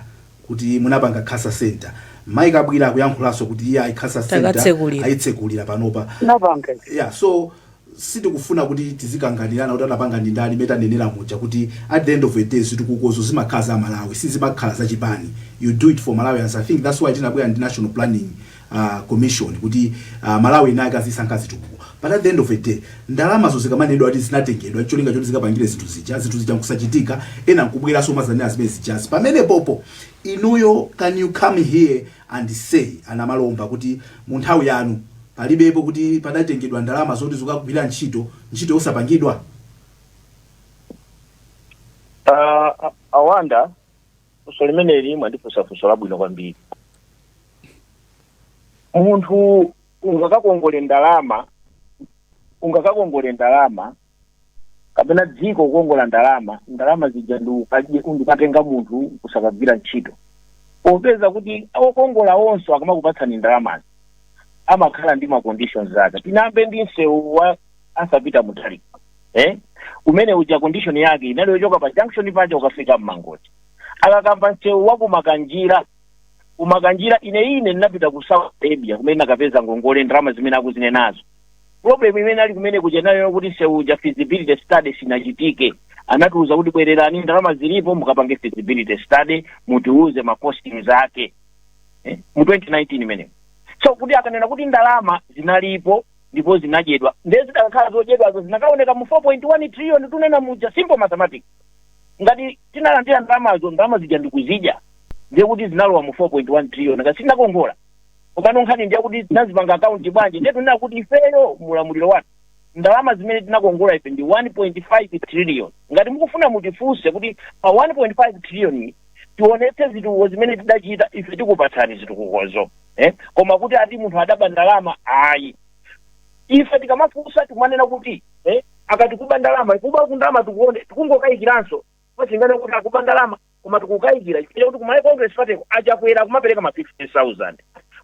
kuti munapanga cancer centre. Mayi Kabwila akuyankhulanso kuti iyayi cancer centre Takatsekulira. ayitsekulira panopa. Tinapanga ife. Yeah, so sitikufuna kuti tizikanganirana kuti anapanga ndi ndani, mmene tanenera muja kuti at the end of the day zitukukozo zimakhala za Amalawi sizimakhala za chipani, you do it for Malawians, I think that's why tinabwera ndi National Planning Commission kuti Amalawi enaake azisankha zitukuko but at the end of the day ndalamazo zikamanenedwa kuti zinatengedwa n'cholinga choti zikapangire zinthu zija, zinthu zija n'kusachitika, ena n'kubweranso kumadzanena zimene zijazi pamenepopo inuyo can you come here and say a Namalomba kuti mu nthawi yanu palibepo kuti padatengedwa ndalama zoti zokagwira ntchito, ntchito yosapangidwa? A Awanda, funso limeneli mwandifunsa funso labwino kwambiri. Munthu ungakakongole ndalama, ungakakongole ndalama kapena dziko kukongola ndalama ndalama zija ndi ukadye- ndikatenga munthu kusakagwira ntchito popeza kuti okongola onse akamakupatsani ndalamazi amakhala ndi maconditions ake tiyambe ndi msewu osapita mutali eh? umene uja condition yake inali yochoka pa junction paja ukafika Mangochi akakamba msewu wa ku Makanjira ku Makanjira ine ine ndinapita ku saudi arabia kumene nakapeza ngongole ndalama zimene akuzinenazo problem imene ali kumene kuja ndi yokuti msewu uja feasibility study sinachitike anatiuza kuti bwererani ndalama zilipo mukapange feasibility study mutiuze ma costings ake eh, mu 2019 imeneyo so kuti akunena kuti ndalama zinalipo ndipo zinadyedwa ndiye zidakakhala zodyedwazo zinakaoneka mu 4.1 trillion tunena muja simple mathematics ngati tinalandira ndalamazo ndalama zija ndikuzidya ndiye kuti zinalowa mu 4.1 trillion ngati sinakongola komano nkhani ndiyakuti tinazipanga akaunti bwanji ndiye tunena kuti ifeyo mulamuliro wathu ndalama zimene tinakongola ife ndi 1.5 trillion ngati mukufuna mutifunse kuti pa 1.5 trillion tionetse zitukuko zimene tidachita ife tikupatsani zitukukozo eh? koma kuti ati munthu adaba ndalama ayi ife tikamafunsa tikumanena kuti eh, akati kuba ndalama ikuba kundalama tikuone tikungokayikiranso posanena kuti akuba ndalama koma tikukayikira chifukwa chakuti ku Malawi Congress Party ku achakwera akumapereka ma 50000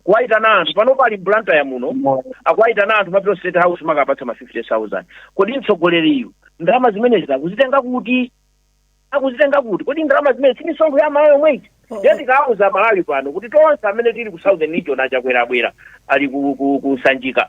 kuwayitana anthu panopa ali Blantyre muno akuwayitana anthu kumapita state house kumakapatsa ma 50000 kodi mtsogoleriyu ndalama zimenezi akuzitenga kuti akuzitenga kuti kodi ndalama zimenezi si misonkho ya amalawi yomweyi Oh. ndiye tikuwauza amalawi pano kuti tonse amene tili ku southern region achakwera abwera ali ku, ku, ku sanjika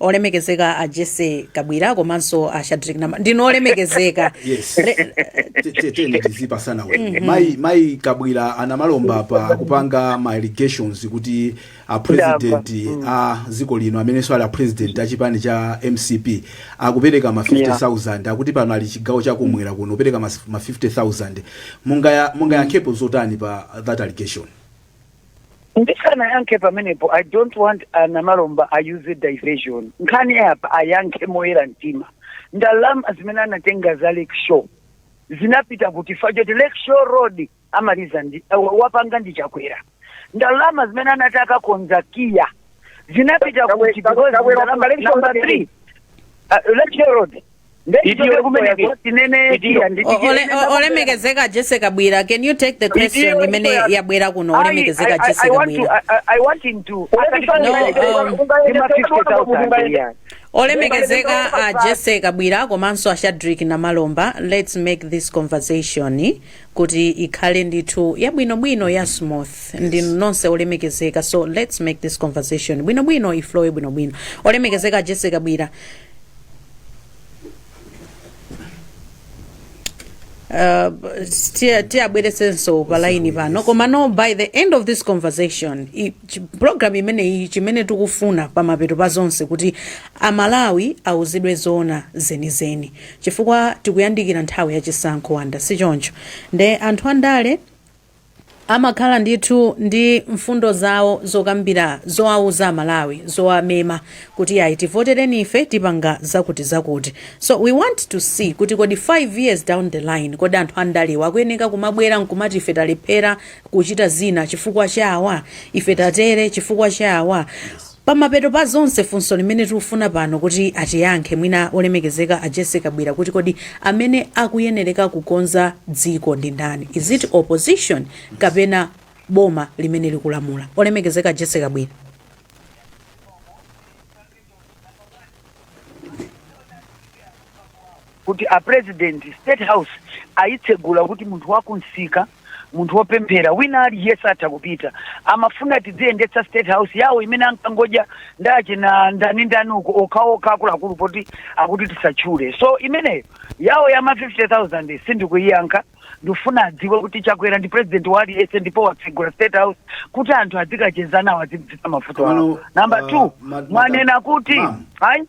olemekezeka a jessie kabwira komanso a shadric nama ndinu olemekezeka yes Re- Te- te- tene tizipasana ulemu mayi mayi kabwira anamalomba pa akupanga ma allegations kuti a president a dziko lino amenenso ali a president a chipani cha mcp akupereka ma 50000 akuti pano ali chigawo chakumwera kuno opereka mas- ma 50000 Mungaya- mungayankhepo zotani pa that allegation ndisanayankhe pamenepo i don't want anamalomba ayuze diversion nkhani apa ayankhe moyera mtima ndalama zimene anatenga za lake shore zinapita kuti chifukwa choti lake shore road amaliza ndi uh, wapanga ndi chakwera ndalama zimene anati akakonza KIA zinapita Chakwera- kuti because Chakwera ndalama- wapanga Lake Shore number road three, uh, lake shore road Ndeichoke kumeneko tinene Idiyo. tiya nditi- O- ole- o- olemekezeka Jessie Kabwira can you take the question imene yabwera kuno olemekezeka Jessie Kabwira I want him to. No, um, Ndima 50,000 yeah. olemekezeka a Jessie Kabwira komanso a Shadric Namalomba let's make this conversation kuti ikhale ndithu yabwinobwino ya smooth ndinu nonse olemekezeka so let's make this conversation bwinobwino iflowe bwinobwino olemekezeka a Jessie Kabwira tiwabweretsenso pa laini pano komano by the end of this conversation i- chi- program imeneyi chimene tikufuna pamapeto pa zonse kuti amalawi awuzidwe zoona zenizeni chifukwa tikuyandikira nthawi ya chisankho Wonder si choncho nde anthu andale Amakhala ndithu ndi mfundo zawo zokambira zowauza amalawi zowamema kuti ayi tivotereni ife tipanga zakuti zakuti so we want to see kuti kodi 5 years down the line kodi anthu andalewa akuyeneka kumabwera nkumati ife talephera kuchita zina chifukwa cha awa ife tatere chifukwa cha awa Pamapeto pa zonse funso limene tikufuna pano kuti atiyankhe mwina olemekezeka a Jessie Kabwira kuti kodi amene akuyenereka kukonza dziko ndi ndani is it opposition kapena boma limene likulamula? Olemekezeka a Jessie Kabwira. kuti a president state house ayitsegula kuti munthu wakumsika munthu wopemphera wina aliyense atha kupita amafuna tidziyendetsa state house yawo imene ankangodya ndachina ndani ndani uko okhaokha akuluakulu poti akuti tisatchule so imeneyo yawo yama 50000 sindikuyiyankha ndifuna adziwe kuti chakwera ndi president wa aliyense ndipo watsegula state house kuti anthu adzikacheza nawo adzidziwitsa mavuto awo Komano, number uh, two ma- mwanena kuti ma'am. ayi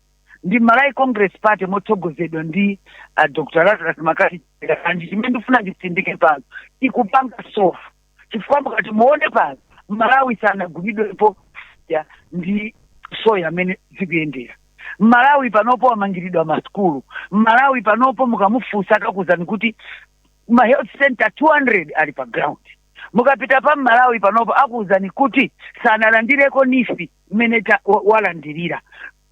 ndi Malawi Congress Party motsogozedwa ndi uh, Dr. Lazarus McCarthy and chimene ndifuna nditsindike pano ikupanga solve chifukwa mukati muone pano Malawi sanagulidwepo ya ndi soya mmene zikuyendera Malawi panopo wamangiridwa masukulu Malawi panopo mukamufunsa akakuuzani kuti ma health center 200 ali pa ground Mukapita pa Malawi panopo akuuzani kuti sanalandireko NEEF mmene ta- wa- walandirira.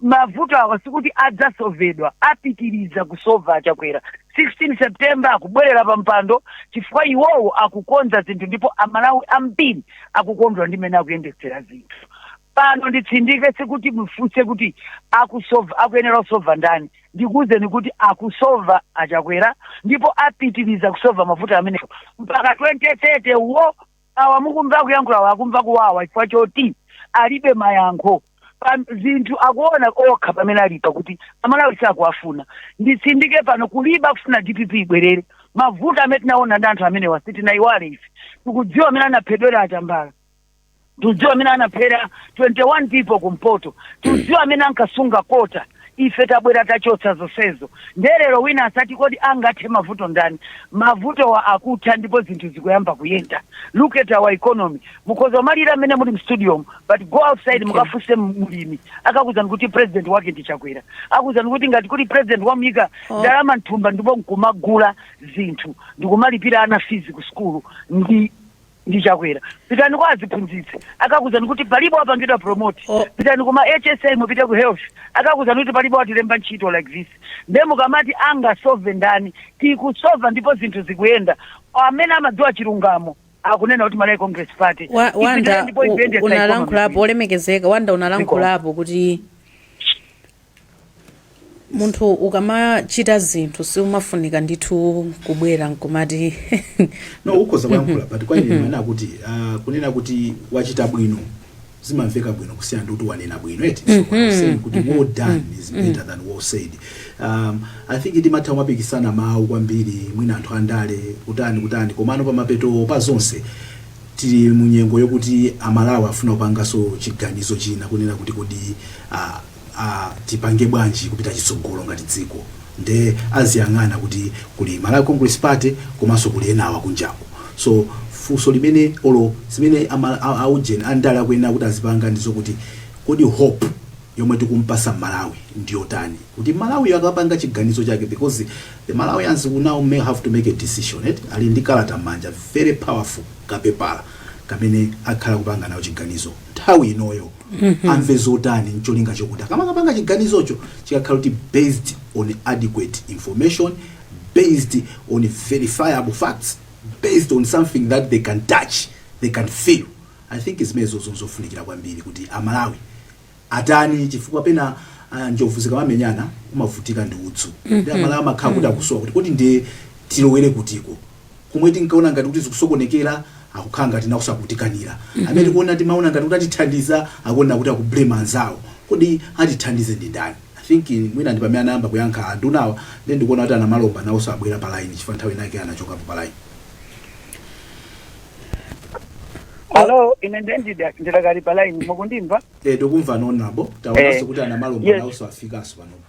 Mavuto awa sikuti adzasovedwa, apitiriza kusova a Chakwera. 16 September akubwerera pa mpando chifukwa iwowo akukonza zinthu ndipo Amalawi ambiri akukondwa ndi mmene akuyendetsera zinthu. Pano nditsindike sikuti mufunse kuti akusova akuyenera kusova ndani. ndikuuzeni kuti akusova a Chakwera ndipo apitiriza kusova mavuto amenewo mpaka 2030 wo awa mukumva kuyankhulawa akumva kuwawa chifukwa choti alibe mayankho pa zinthu akuona okha pamene alipo kuti amalawi sakuwafuna nditsindike pano kulibe akufuna dpp ibwerere mavuto amene tinaona ndi anthu amenewa sitinayiwale ife tikudziwa amene anaphera a Tambala tikudziwa amene anaphera 21 people kumpoto tikudziwa amene ankasunga kota ife tabwera tachotsa zonsezo nde lero wina asati kodi angathe mavuto ndani mavutowa akutha ndipo zinthu zikuyamba kuyenda look at our economy mukhoza kumalira mmene muli mu studio but go outside mukafunse mlimi akakuuzani kuti president wake ndi chakwera akuuzani kuti ngati kuli president wamuyika ndalama mthumba ndipo nkumagula zinthu ndikumalipira ana fees ku sukulu ndi chakwera pitani kwa aziphunzitsi akakuuzani kuti palibe watipanga promote pitani kuma hsa mupite ku health akakuuzani kuti palibe watilemba ntchito like this nde mukamati angasove ndani tikusova ndipo zinthu zikuyenda amene amadziwa chilungamo akunena kuti malawi congress party wanda unalankhulapo olemekezeka wanda unalankhulapo kuti munthu ukamachita zinthu siumafunika ndithu kubwera nkumati no ukhoza kuyankhula but kwa ine ndimanena kuti ah, kunena kuti wachita bwino zimamveka bwino kusiyana ndi kuti wanena bwino eti so I'm saying kuti well done is better than well said um, i think timatha kumapikisana mawu kwambiri mwina anthu andale kutani kutani komano pamapeto pa zonse tili munyengo yokuti amalawi afuna kupangaso chiganizo china kunena kuti kodi ah, a tipange bwanji kupita chitsogolo ngati dziko nde aziyang'ana kuti kuli Malawi Congress Party komanso kuli enawa kunjaku so funso limene olo zimene a, Mala- a, a ujeni andale akuyenera kuti azipanga ndizokuti kodi hope yomwe tikumpasa mmalawi ndiyotani kuti mmalawiyo akapanga chiganizo chake because the malawians will now may have to make a decision eti ali ndi kalata mmanja very powerful kapepala kamene akhala kupanga nako chiganizo nthawi inoyo amve zotani ncholinga chokuti akamakapanga chiganizocho chikakhala kuti based on adequate information based on verifiable facts based on something that they can touch they can feel i think zimenezo nzofunikira kwambiri kuti amalawi atani chifukwa pena ah, njovu zikamamenyana amavutika ndi udzu ndi amalawi amakhala kuti akusowa kuti kodi ndiye tilowere kutiko komwe tinkaona ngati kuti zikusokonekera akukhala ngati nawo sakutikanira amene tikuona timaona ngati kuti atithandiza akuona kuti akublame anzawo kodi atithandize ndi ndani i think in- mwina ndi pamene anayamba kuyankha andunawa then ndikuona kuti a Namalomba nawonso abwera pa line chifukwa nthawi inake anachokapo pa line alo ine nde ndida- ndidakali pa line mukundimva eh tikumva honourable taonanso Eh. kuti a Namalomba Yes. nawonso afikanso panopa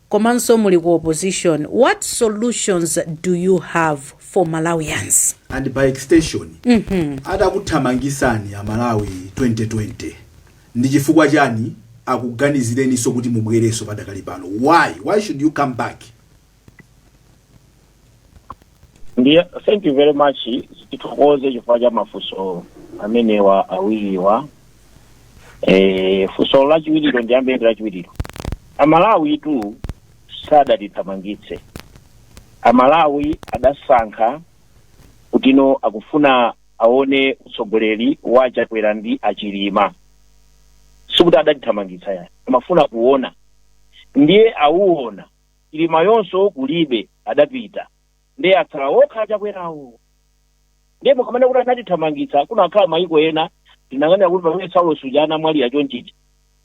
komanso muli ku opposition what solutions do you have for malawians? and by extension atakuthamangisani amalawi 2020 ndichifukwa chani akuganizireninso kuti mubwerenso padakali pano why why should you come back? ndiye thank you very much tithokoze chifukwa cha mafunso amenewa awiriwa eh, funso lachiwiriro ndiyambe ndi lachiwiriro amalawitu sadatithamangitse amalawi adasankha kutino akufuna aone utsogoleri wa achakwera ndi achilima sikuti adatithamangitsa ayi amafuna kuona ndiye awuona achilimawonso kulibe adapita nde atsala okha achakwerawo ndiye mukamene kuti anatithamangitsa kunakhala mayiko ena tinakanena kuti pamene saulos uja anamwalira chomwechi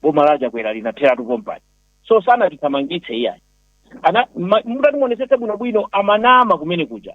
boma la achakwera linatheratu pompani so sanatithamangitse iyayi ana ma- mutatimuonesese bwinobwino amanama kumene kuja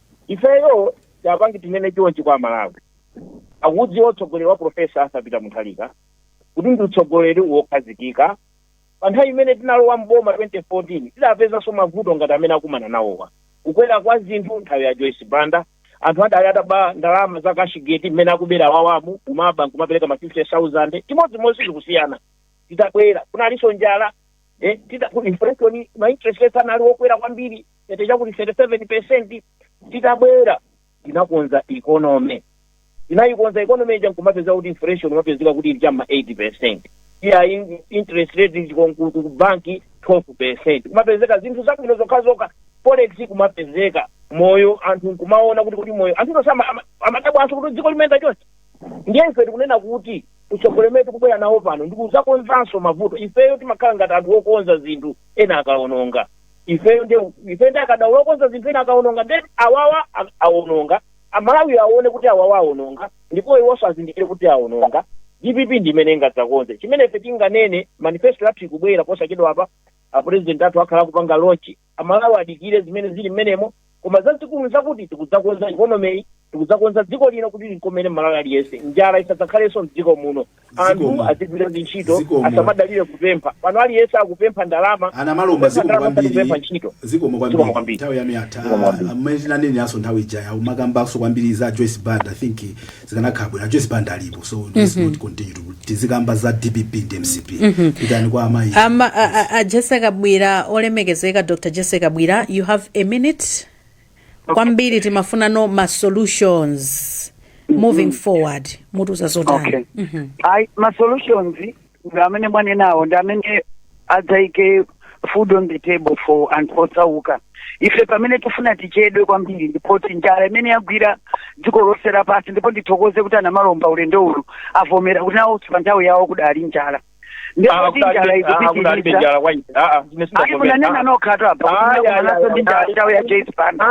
Ifeyo chapangi tinene chonchi kwa amalawi akudziwa utsogoleri wa professor Arthur Peter Mutharika kuti ndi utsogoleri wokhazikika. Pa nthawi imene tinalowa m'boma 2014 tidapezanso mavuto ngati amene akumana nawowa. Kukwera kwa zinthu nthawi ya Joyce Banda anthu adali ataba ndalama za cashgate mmene akubera awawamu kumaba n'kumapereka ma 50,000 chimodzimodzi sizikusiyana. Titabwera kunalinso njala. eh, tita ku inflation ma interest rates anali okwera kwambiri eti chakuti 37 percent titabwera tinakonza economy tinayikonza economy ija nkumapezeka kuti inflation umapezeka kuti ili cha m'ma 8 percent iya in- interest rate chikonku ku banki 12 percent kumapezeka zinthu zabwino zokhazokha forex kumapezeka moyo anthu nkumaona kuti kuti moyo anthu tosama amadabwanso kuti dziko limayenda chonchi ndiye ife tikunena kuti utsogoleri umene tikubwera nawo pano ndi kudzakonzanso mavuto ifeyo timakhala ngati anthu okonza zinthu ena akaononga ifeyo nde ife ndi akadaulo okonza zinthu ena akaononga nde awawa a- aononga amalawi aone kuti awawa aononga ndipo iwonso azindikire kuti aononga dpp ndi imene ingadzakonze chimene ife tinganene manifesto yathu ikubwera posachedwa apa apurezidenti athu akhala akupanga launch Amalawi adikire zimene zili mmenemo koma zazikulu nzakuti tikudzakonza economy-yi, tikudzakonza dziko lino kuti linkomere Mmalawi aliyense. Njala isadzakhalenso mdziko muno. Anthu Zikomo. azigwira ntchito, Zikomo. asamadalire kupempha. Pano aliyense akupempha ndalama, a Namalomba kupempha zikomo ndalama osati kupempha kwambiri ntchito. zikomo Zikomo kwambiri kwambiri. nthawi yanu yatha Zikomo kwambiri. mmene tinaneneranso nthawi ija umakambanso kwambiri za joyce banda i think zikanakhala bwino ajoyce banda alipo so let's not continue kuti tizikamba za dpp ndi mcp tipite kwa amayi ama a, a, a jesse kabwila olemekezeka dr jesse kabwila you have a minute kwambiri timafunano ma solutions moving forward mutiuza zotani okay ayi ma solutions ndi amene mwanenawo ndi amene adzaike food on the table for anthu osauka ife pamene tifuna tichedwe kwambiri ndi poti njala imene yagwira dziko lonse lapansi ndipo ndithokoze kuti a Namalomba ulendo uno avomera kuti nawonso pa nthawi yawo kudali njala ndi poti njala ikupitiriza ayi munanena nokhatu apa kuti munakumananso ndi njala nthawi ya Joyce Banda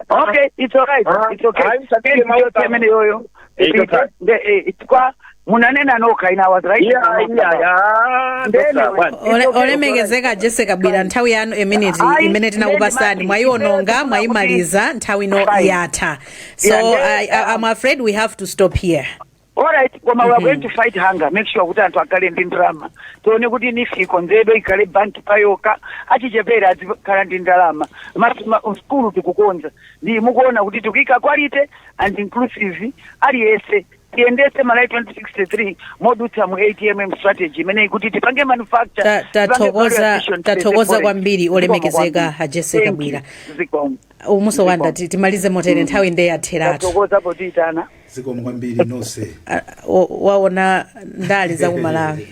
okay it's alright it's okay Koma yonse imene yoyo Eight Ipite, o'clock. nde, eh, chifukwa munanena nokha in our rights Yeah, yeah, yeah. Nde Dr. anyway, One. it's Ole- okay, olemekezeka Jessie Kabwila nthawi yanu ya miniti Ayi, imene tinakupatsani ndeni mwayiwononga mati. mwayimaliza nthawi ino Fine. yatha so Yeah, ndeni. I, I, i'm afraid we have to stop here all right koma we are going to fight hunger make sure kuti anthu akhale ndi ndalama tione kuti NEEF ikonzedwe ikhale banki payokha achichepere azikhala ndi ndalama Mas- ma- sukulu tikukonza ndi mukuona kuti tikuika quality and inclusive aliyense tiyendetse Malawi 2063 modutsa mu atmm strategy imeneyi kuti tipange manufacture Ta- tipange value tathokoza addition, tipange tathokoza foreign. kwambiri Zikomo olemekezeka kwambiri. a Jessie Thank you. Kabwila Zikomo. umunso wanda Zikomo. ti- timalize motere nthawi nde yatheratu Tathokoza potiyitana zikomo kwambiri nonse Ah, wa- waona ndale za ku Malawi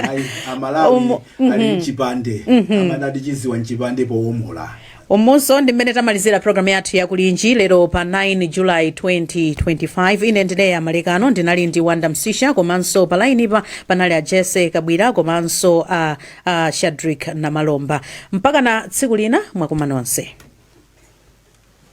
ayi amalawi Umo- ali mchipande amanatu chidziwa mchipande powomola umunso ndi mmene tamalizira programu yathu ya Kulinji lero pa 9 July 2025 ine ndineya malekano ndinali ndi wanda msisha komanso pa lainipa panali a Jessie Kabwila komanso a, a Shadric namalomba mpaka na tsiku lina mwakoma nonse